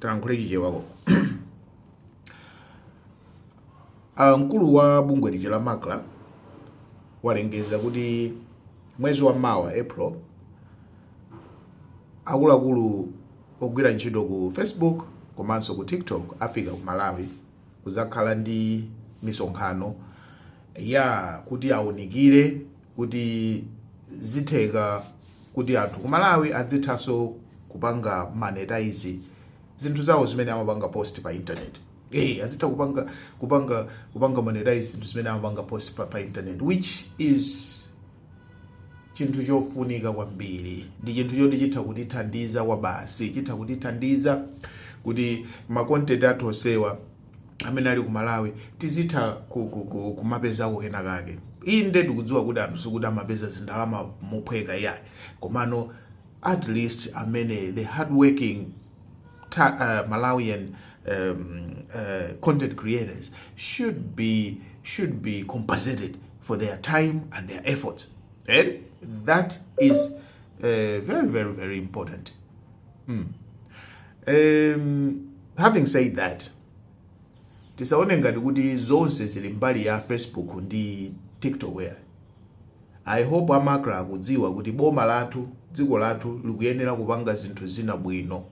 tilankhule chichewa mkulu wa bungwe lija la macra walengeza kuti mwezi wa mawa april akuluakulu ogwira ntchito ku facebook komanso ku tiktok afika ku malawi kuzakhala ndi misonkhano ya kuti aunikire kuti zitheka kuti anthu ku Malawi adzithanso kupanga monetize zinthu zawo zimene amapanga post pa internet azitha kupanga monetize zinthu zimene amapanga post pa internet which is chinthu chofunika kwambiri ndi chinthu choti chitha kutithandiza kwabasi chitha kutithandiza kuti makontenti athu onsewa amene ali ku malawi tizitha kumapezako kena kake inde ndikudziwa kuti anthu sikuti amapeza zindalama mophweka iyayi komano at least amene the hardworking Malawian content creators should be compensated for their time and their efforts. And that is very, very, very important. mm. um, having said that tisaone ngati kuti zonse zili mbali ya facebook ndi tiktok ya i hope a macra akudziwa kuti boma lathu dziko lathu likuyenera kupanga zinthu zina bwino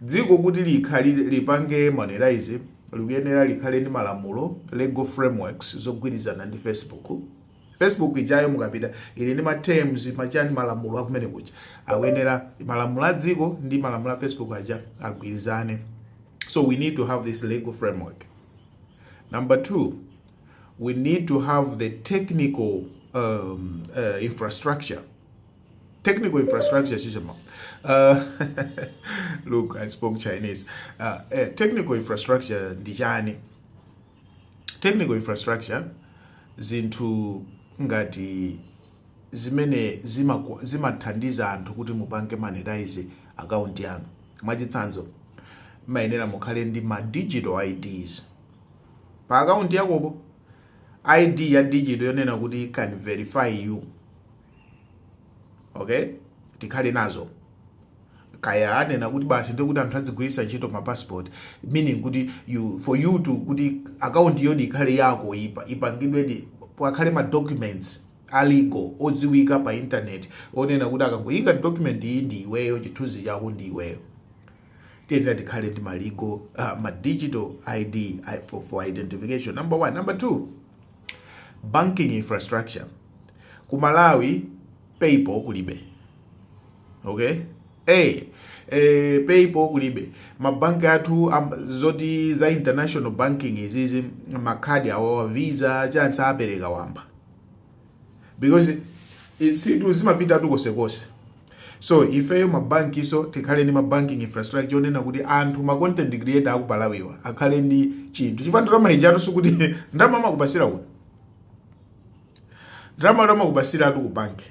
dziko kuti likhale lipange monetize likuyenera likhale ndi malamulo legal frameworks zogwirizana ndi facebook Facebook ijayo mukapita ili ndi ma terms machani malamulo akumene kuja akuyenera malamulo a dziko ndi malamulo a Facebook aja agwirizane so we need to have this legal framework number two we need to have the technical infrastructure technical infrastructure look i spoke chinese technical infrastructure ndi chani technical infrastructure zinthu ngati zimene zimathandiza anthu kuti mupange monetize akaunti yanu mwachitsanzo mumayenera mukhale ndi ma digital ids pa akaunti yakopo id ya digital yonena kuti can verify you okay tikhale nazo kaya anena kuti basi ndiye kuti anthu adzigwiritsa ntchito ma passport meaning kuti for you to kuti account iyodi ikhale yako ipa ipangidwedi pakhale ma documents a legal odziwika pa internet onena kuti akangoyika document iyi ndi iweyo chithunzi chako ndi iweyo tiyenera tikhale ndi ma legal ma digital id for identification number one number two banking infrastructure ku malawi paypal kulibe okay hey, eh, eh, paypal kulibe mabanki athu um, zoti za international banking izizi makhadi awawa Visa chansa apereka wamba because zinthu zimapita konsekonse so ifeyo mabanki so tikhale ndi mabanking infrastructure onena kuti anthu ma content creator aku Malawiwa akhale ndi chinthu chifukwa ndalama ija sikuti ndalama amakupasira kuti ndalama amakupasiratu ku banki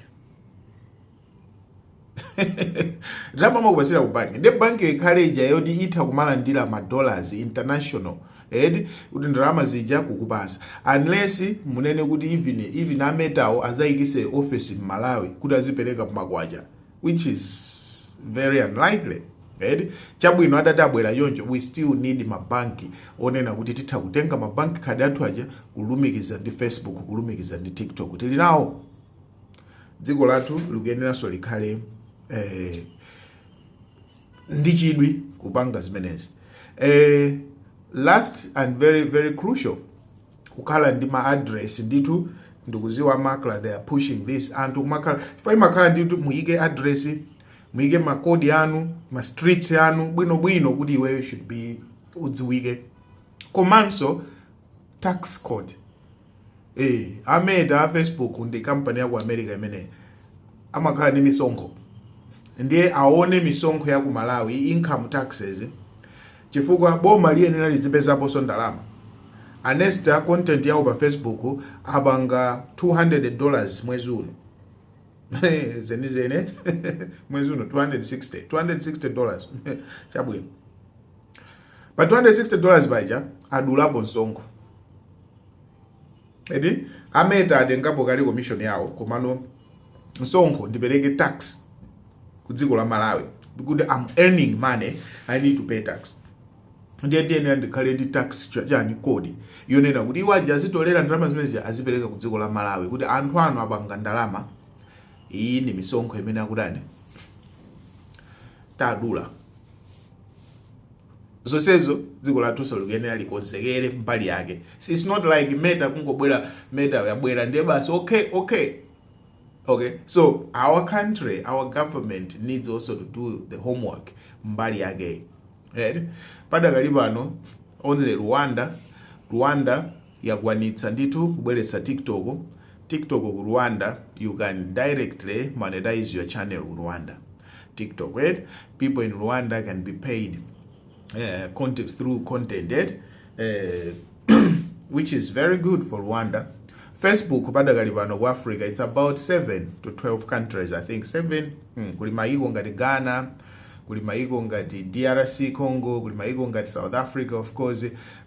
ndalama amakupasira ku banki ndi banki ikhale ija yoti itha kumalandira ma dollars international eti kuti ndalama zija kukupasa unless munene kuti even even ametawo azayikise office m'malawi kuti azipereka pamakwacha which is very unlikely eti chabwino atati abwera choncho we still need mabanki onena kuti titha kutenga ma bank card athu aja kulumikiza ndi facebook kulumikiza ndi tiktok tili nawo dziko lathu likuyeneranso likhale eh, ndi chidwi kupanga zimenezi eh, last and very very crucial kukhala ndi ma address ndithu ndikuziwa MACRA they are pushing this anthu kumakhala chifukwa imakhala ndithu muyike address muyike makodi anu ma streets anu bwinobwino kuti iweyo should be udziwike komanso tax code Eh, a Meta a Facebook ndi kampani ya ku America imeneyi amakhala ndi misonkho ndiye aone misonkho ya ku Malawi income taxes chifukwa boma liyenera lizipezaponso ndalama anesta content yawo pa facebook apanga 200 dollars mwezi uno zenizene mwezi uno 260 260 dollars chabwino pa 260 dollars paja adulapo msonkho eti ameta atengapo kale commission yawo komano msonkho ndipereke tax ku dziko la malawi because I'm earning money i need to pay tax ndiye ndiyenera ndikhale ndi tax cha- chani code yonena kuti iwo aja azitolera ndalama zimenezi azipereka ku dziko la malawi kuti anthu anu apanga ndalama iyi ndi misonkho imene akutani tadula zonsezo dziko lathunso likuyenera likonzekere mbali yake so it's not like meta kungobwera meta yabwera ndiye basi okay okay okay so our country our government needs also to do the homework mbali yake right? padakali pano only rwanda rwanda yakwanitsa ndithu kubweretsa TikTok TikTok ku Rwanda you can directly monetise your channel ku Rwanda TikTok eti people in Rwanda can be paid uh, content through content eti uh, which is very good for Rwanda Facebook padakali pano ku Africa it's about 7 to 12 countries I think 7 hmm, kuli maiko ngati Ghana kuli maiko ngati DRC Congo kuli maiko ngati South Africa of course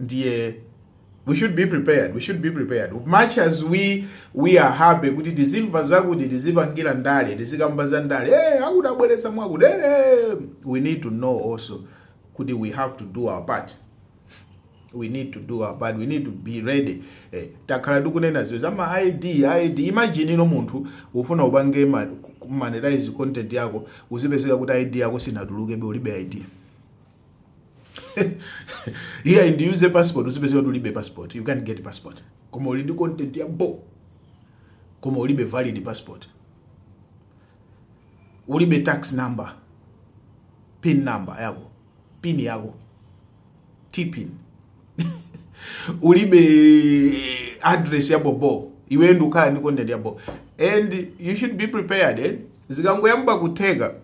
ndiye we should be prepared we should be prepared much as we we are happy kuti tizimva zakuti tizipangira ndale tizikamba za ndale hey, eh, akutibweretsera mwakuti hey, eh, we need to know also kuti we have to do our part we need to do our part we need to be ready eh, takhala tikunena izi za ma id id imagine iwe munthu ufuna upange monetize content yako uzipezeka kuti id yako sinatulukebe ulibe id iyayi ndi use passport uzipezeka kuti ulibe passport you can't get passport koma uli ndi content ya bo koma ulibe valid passport ulibe tax number pin number yako pin yako tpin ulibe address ya bobo iwe n'kukhala ndi content ya bo and you should be prepared eh? zikangoyamba kutheka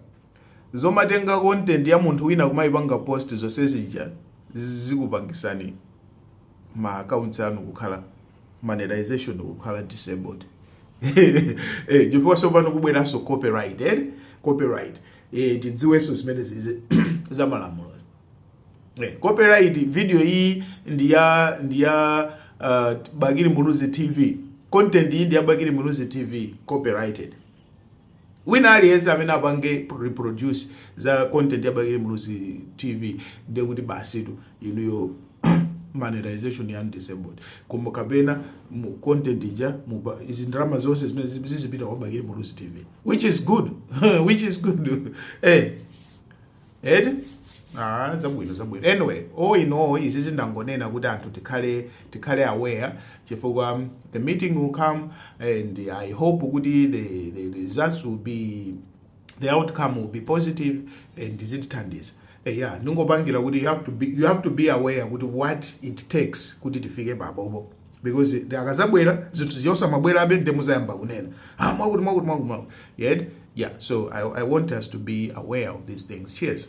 zomatenga content ya munthu wina kumayipanga post zonse zija zikupangisani ma accounts anu kukhala monetization kukhala disabled eh chifukwa tsopano kubweranso copyright eh copyright eh tidziwenso zimene zize za malamulo eh copyright video iyi ndi ya ndi ya uh, Bakili Muluzi TV content iyi ndi ya Bakili Muluzi TV copyrighted wina aliyense amene apange reproduce za content ya Bakili Muluzi TV ndiye kuti basitu inuyo monetization ya disabled komanso kapena mu content ija mu ndalama zonse zimene zizipita kwa Bakili Muluzi TV which is good which is good eh eti Ah, zabwino zabwino anyway all in all izi ndangonena kuti anthu tikhale tikhale aware chifukwa um, the meeting will come and i hope kuti the, the results will be the outcome will be positive and zitithandiza Eh, yeah ndimangopangira kuti you have to be, you have to be aware kuti what it takes kuti tifike pabobo because zikazabwera zinthu zija zosamabwerabe nde muzayamba kunena ah, mwakuti mwakuti mwakuti mwakuti yet yeah so I, i want us to be aware of these things cheers